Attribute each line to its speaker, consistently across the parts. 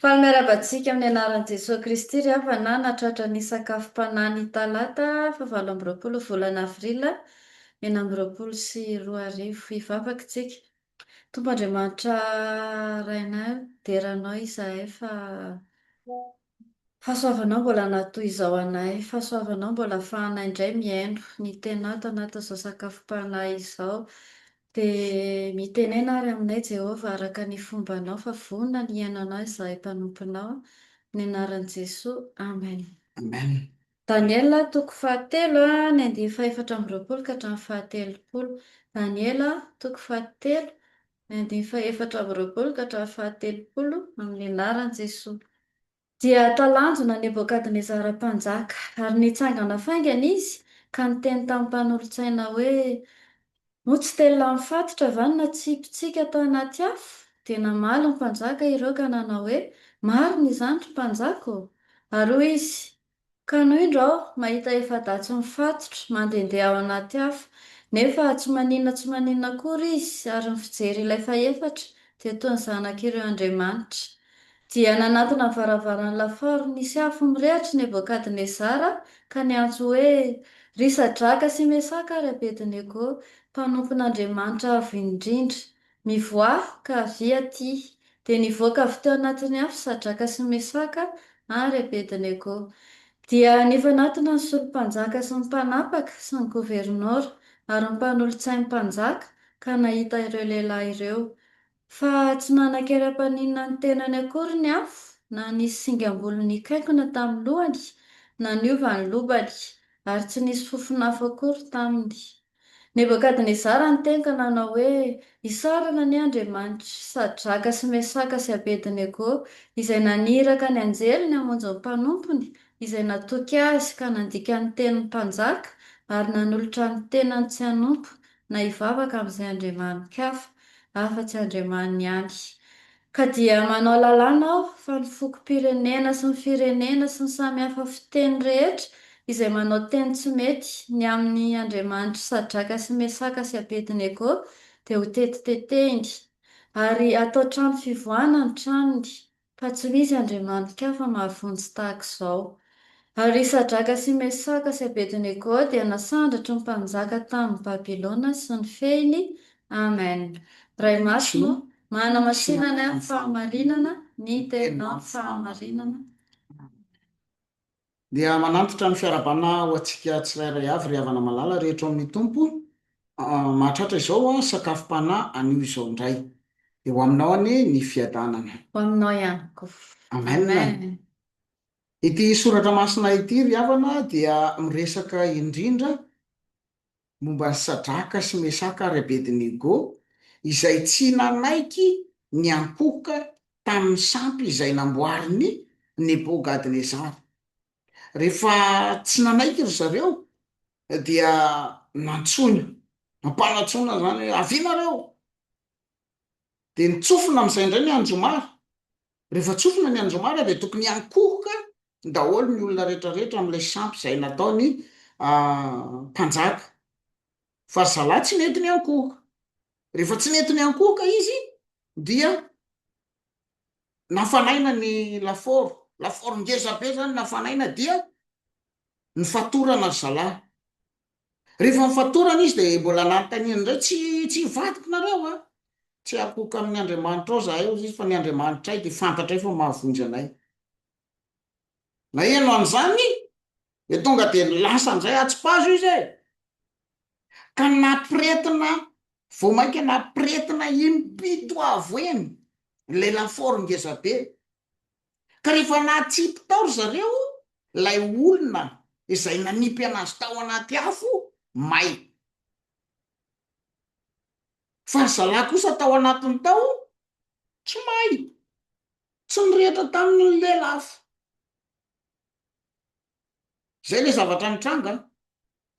Speaker 1: Faly miarahaba antsika amin'ny anaran'i Jesoa Kristy ry havana nahatratra ny sakafom-panahy ny talata faha valo amby roapolo volana avrila enina amby roapolo sy roa arivo. Hivavaka isika. Tompo Andriamanitra Rainay, dera Anao izahay fa Fahasoavanao mbola an'atoy izao anay, fahasoavanao mbola afahanay indray mihaino ny tenat anatin'izao sakafom-panahy izao. Dia mitenena ary aminay Jehovah araka ny fombanao fa vonona ny hihaino anao izahay mpanomponao. Amin'ny anaran'i Jesoa. Amen. Amen.
Speaker 2: Daniela
Speaker 1: toko fahatelo a ny andiany fahefatra amby roapolo ka hatramin'ny fahatelopolo. Daniela toko fahatelo ny andininy fahaefatra amby roapolo ka hatramin'ny fahatelopolo amin'ny anaran'i Jesoa. Dia talanjona Nebokadnezara mpanjaka, ary nitsangana faingana izy ka niteny tamin'ny mpanolotsaina hoe, Moa tsy te lany fatotra va ny natsipitsika tao anaty afo? Dia namaly ny mpanjaka ireo ka nanao hoe, Marina izany, ry mpanjaka ô! Ary hoy izy, Kanoindra aho mahita efa-datsy mifatotra, mandehandeha ao anaty afo. Nefa tsy maninona tsy maninona akory izy, ary ny fijery ilay fahefatra dia toy ny zanak'ireo andriamanitra. Dia nanatona ny varavaran'ny lafaoro nisy afo mirehatry Nebokadnezara ka niantso hoe, Ry Sadraka sy Mesaka ary Abednego, mpanompon'Andriamanitra Avo Indrindra, Mivoaha ka avia aty. Dia nivoaka avy teo anatin'ny afo Sadraka sy Mesaka ary Abednego. Dia nifanatona ny solom-panjaka sy ny mpanapaka sy ny governora ary ny mpanolotsain'ny mpanjaka ka nahita ireo lehilahy ireo. Fa tsy nanan-kery hampaninona ny tenany akory ny afo na nisy singam-bolo nikaikona tamin'ny lohany na niova ny lobany, ary tsy nisy fofon'afo akory taminy. Nebokadnezara nitenga nanao hoe, Isaorana anie Andriamanitr'i Sadraka sy Mesaka sy Abednego, izay naniraka ny anjeliny hamonjy ny mpanompony, izay natoky azy ka nandika ny tenin'ny mpanjaka ary nanolotra ny tenany tsy hanompo na hivavaka amin'izay andriamani-kafa afa-tsy Andriamaniny ihany. Ka dia manao lalàna aho fa ny fokom-pirenena sy ny firenena sy ny samy hafa fiteny rehetra izay manao teny tsy mety ny amin' ny andriamanitry Sadraka sy Mesaka sy Abednego dia ho tetitetehiny, ary hatao trano fivoahana ny tranony, fa tsy misy andriamani-kafa mahavonjy tahaka izao. Ary i Sadraka sy Mesaka sy Abednego dia nasandratry ny mpanjaka tamin' ny Babilôna sy ny fehiny. Amen. Ray masina ô, Manamasinana ny fahamarinana ny tena
Speaker 2: fahamarinana. Dia manantitra ny fiarahabana ho antsika tsirairay avy ry havana malala rehetra ao amin'ny Tompo mahatratra izao sakafom-panahy anio izao indray. Dia ho aminao anie ny fiadanana. Ho aminao
Speaker 1: ihany koa. Amen.
Speaker 2: Ity soratra masina ity ry havana dia miresaka indrindra. momba an'i Sadraka sy Mesaka ary Abednego, izay tsy nanaiky ny hampoka tamin'ny sampy izay namboarin'i Nebôkadnezara. Rehefa tsy nanaiky ry zareo, dia nantsoina, nampanantsoina izany hoe, Avia nareo! Dia nitsofina amin'izay indray ny anjomara, Rehefa tsofina ny andro omaly dia tokony hiankohoka daholo ny olona rehetrarehetra amin'ilay sampy izay nataon'ny mpanjaka. Fa ry zalahy tsy nety niankohoka. Rehefa tsy nety niankohoka izy dia nafanaina ny lafaoro. Lafaoro ngezabe izany nafanaina dia nofatorana ry zalahy. Rehefa nifatorana izy dia mbola nanontaniany indray, Tsy, tsy hivadiko nareo a? Tsy hakoka amin'ny andriamanitrao izahay, hoy izy, fa ny andriamanitray dia fantatray fa mahavonjy anay. Naheno an'izany dia tonga dia lasa indray atsipazo izy e! Ka nampiretina, vao mainka nampiretina im-pito avoheny ilay lafaoro ngezabe. Ka rehefa natsipy tao ry zareo ilay olona izay nanipy an'azy tao anaty afo may, fa ry zalahy kosa tao anatiny tao tsy may, tsy nirehitra tamin'ny ny lelafo. Izay ilay zavatra nitranga an!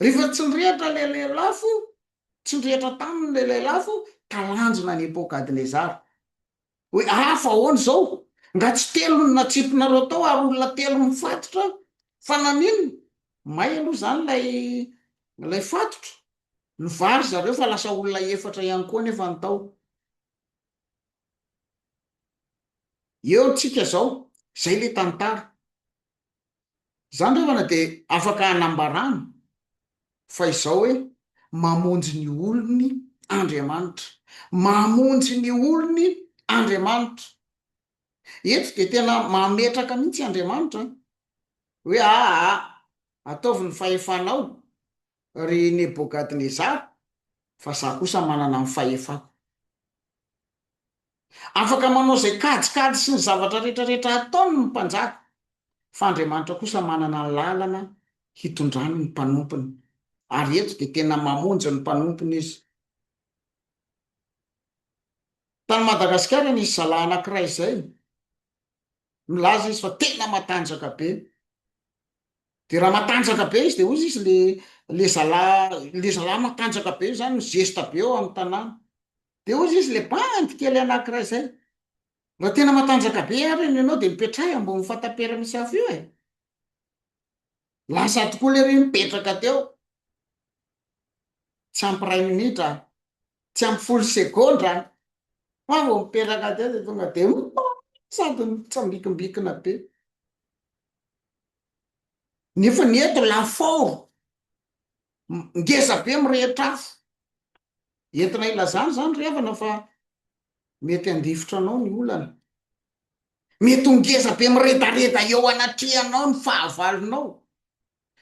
Speaker 2: Rehefa tsy nirehitra ilay lelafo, tsy nirehitra taminy ilay lelafo, talanjona an'i Nepokadnezara. hoe aa fa ahoana izao? Nga tsy telo no natsipinareo tao ary olona telo mifatotra fa naninona? May aloha izany ilay ilay fatotra, nivary zareo fa lasa olona efatra ihany koa nefa ny tao. Eo ntsika izao, izay ilay tantara. Zany rahavana dia afaka hanambarana fa izao hoe mamonjy ny olony Andriamanitra. Mamonjy ny olony Andriamanitra. Eto dia tena mametraka mihitsy Andriamanitra hoe aa ataovy ny fahefanao ry Nebogadnezara fa za kosa manana ny fahefako. Afaka manao izay kajikajy sy ny zavatra rehetrarehetra ataony ny mpanjaka, fa Andriamanitra kosa manana ny lalana hitondrany ny mpanompony, ary eto dia tena mamonjy ny mpanompony Izy. Tany Madagasikara nisy zalahy anankiray izay, milaza izy fa tena matanjaka be, dia raha matanjaka be izy dia hoy izy le le zalahy le zalahy matanjaka be io izany mi-geste be ao amin'ny tanàna, Dia hozy izy, Ilay bandy kely anankiray izay. Raha tena matanjaka be ary ny anao dia mipetraha ambony fatapera misy afo io e! Lasa tokoa ilay reny mipetraka teo. Tsy ampy iray minitra, tsy ampy folo segondra, fa vao mipetraka teo dia tonga dia sady mitsambikimbikina be. Nefa ny eto lafaoro, ngeza be mirehitra afo. Entina ilazana izany ry havana fa mety handifotra anao ny olana. Mety ho ngeza be miredareda eo anatrehanao ny fahavalonao.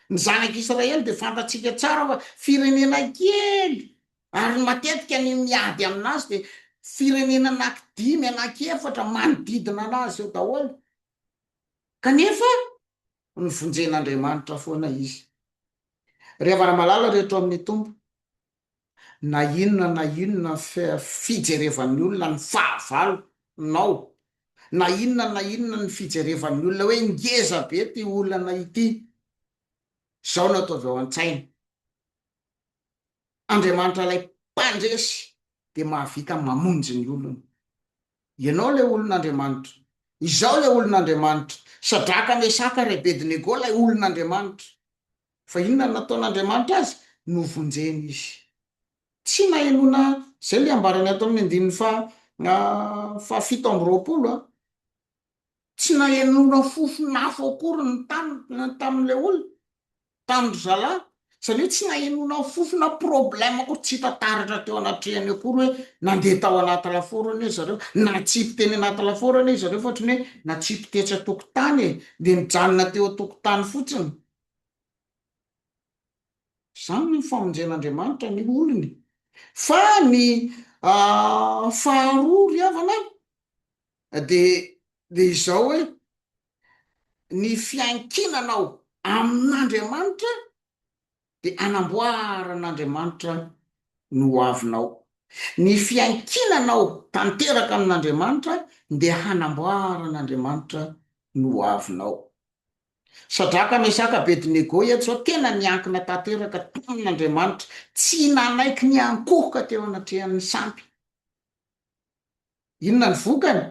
Speaker 2: Ny zanak'Israely dia fantatsika tsara fa firenena kely ary ny matetika ny miady amin'azy dia firenena anankidimy, anankiefatra manodidina an'azy eo daholo. Kanefa novonjen'Andriamanitra foana izy. Ry havana malala rehetra ao amin'ny Tompo, Na inona na inona fijerevan'ny olona ny fahavalo nao, na inona na inona ny fijerevan'ny olona hoe ngeza be ity olana ity, izao no ataovy ao an-tsaina, Andriamanitra ilay mpandresy dia mahavita mamonjy ny olony. Ianao ilay olon'Andriamanitra. Izaho ilay olon'Andriamanitra. Sadraka, Mesaka ary Abednego ilay olon'Andriamanitra. Fa inona no nataon'Andriamanitra azy? Novonjeny izy. Tsy nahenoana izay ilay ambarany ato amin'ny andininy faha, fahafito amby roapolo. Tsy nahenoana fofon'afo akory ny tany tamin'ilay olona, tamin-dry zalahy. Izany hoe tsy nahenoana fofona problème akory, tsy hita taratra teo anatrehany akory hoe nandeha tao anaty lafaoro anie ry zareo, natsipy teny anaty lafaoro anie ry zareo fa ohatran'ny hoe natsipy tetsy an-tokotany e, dia nijanona teo an-tokotany fotsiny. Izany no famonjen'Andriamanitra ny olony. Fa ny faharoa ry havana an, dia izao hoe, ny fiankinanao amin'Andriamanitra dia anamboaran'Andriamanitra ny ho avinao. Ny fiankinanao tanteraka amin'Andriamanitra dia hanamboaran'Andriamanitra ny ho avinao. Sadraka, Mesaka, Abednego, eto zao tena niankina tanteraka tamin' Andriamanitra, tsy nanaiky ny hankohoka teo anatrehan' ny sampy. Inona ny vokany?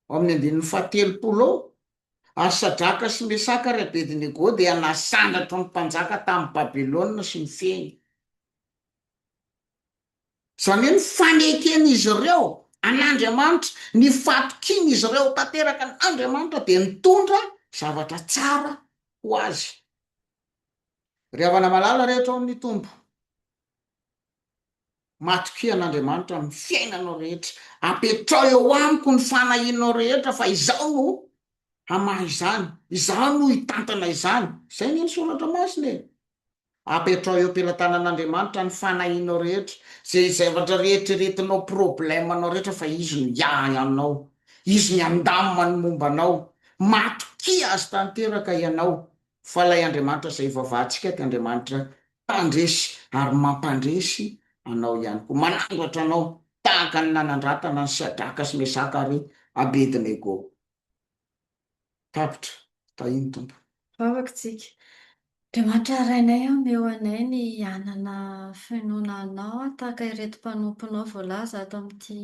Speaker 2: Ao amin' ny andininy fahatelopolo ao, Ary Sadraka sy Mesaka ary Abednego dia nasandratra ny mpanjaka tany Babilôna sy nifehy. Izany hoe ny faneken'izy ireo an'Andriamanitra, ny fatokian'izy ireo tanteraka an'Andriamanitra dia nitondra zavatra tsara ho azy. Ry havana malala rehetra ao amin'ny Tompo, matokia an'Andriamanitra amin'ny fiainanao rehetra, apetraho eo amiko ny fanahianao rehetra fa izaho no hamaha izany, izaho no hitantana izany. Izay anie ny Soratra Masina e! Apetraho eo am-pelatanan'Andriamanitra ny fanahianao rehetra, izay zavatra rieritreretinao, problème nao rehetra fa Izy no hiahy anao, Izy ny handamina ny momba anao, matokia Azy tanteraka ianao, fa ilay Andriamanitra izay ivavahantsika dia Andriamanitra mpandresy ary mampandresy anao ihany koa, manandratra anao tahaka ny nanandratana an'i Shadraka sy Mesaka ary Abednego. tapitra tahiny Tompo. Vavaka tsika.
Speaker 1: Dia mahatrarainay omeo anay ny hanana finoana anao tahaka ireto mpanomponao voalaza ato amin'ity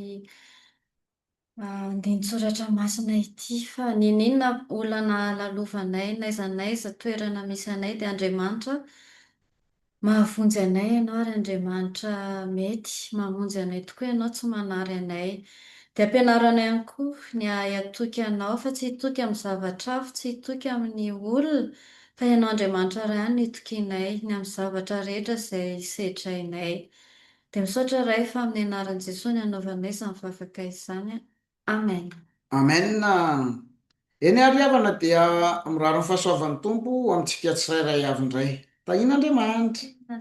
Speaker 1: andinin-tsoratra masina ity fa n'inon'inona olana alalovanay n'aiza n'aiza toerana misy anay dia Andriamanitra Mahavonjy anay Ianao, ry Andriamanitra, mety, mamonjy anay tokoa Ianao, tsy manary anay. Dia ampianaro anay ihany koa ny hahay hatoky Anao, fa tsy hitoky amin'ny zavatra hafa, tsy hitoky amin'ny olona, fa Ianao Andriamanitra Ray ihany no itokianay, ny amin'ny zavatra rehetra izay sedrainay. Dia misaotra Ray fa amin'ny anaran'i Jesoa no anaovanay izany vavaka izany an. Amen.
Speaker 2: Amen Eny ary havana dia mirary ny fahasoavan'ny Tompo ho amintsika tsirairay avy indray. Tahian'Andriamanitra.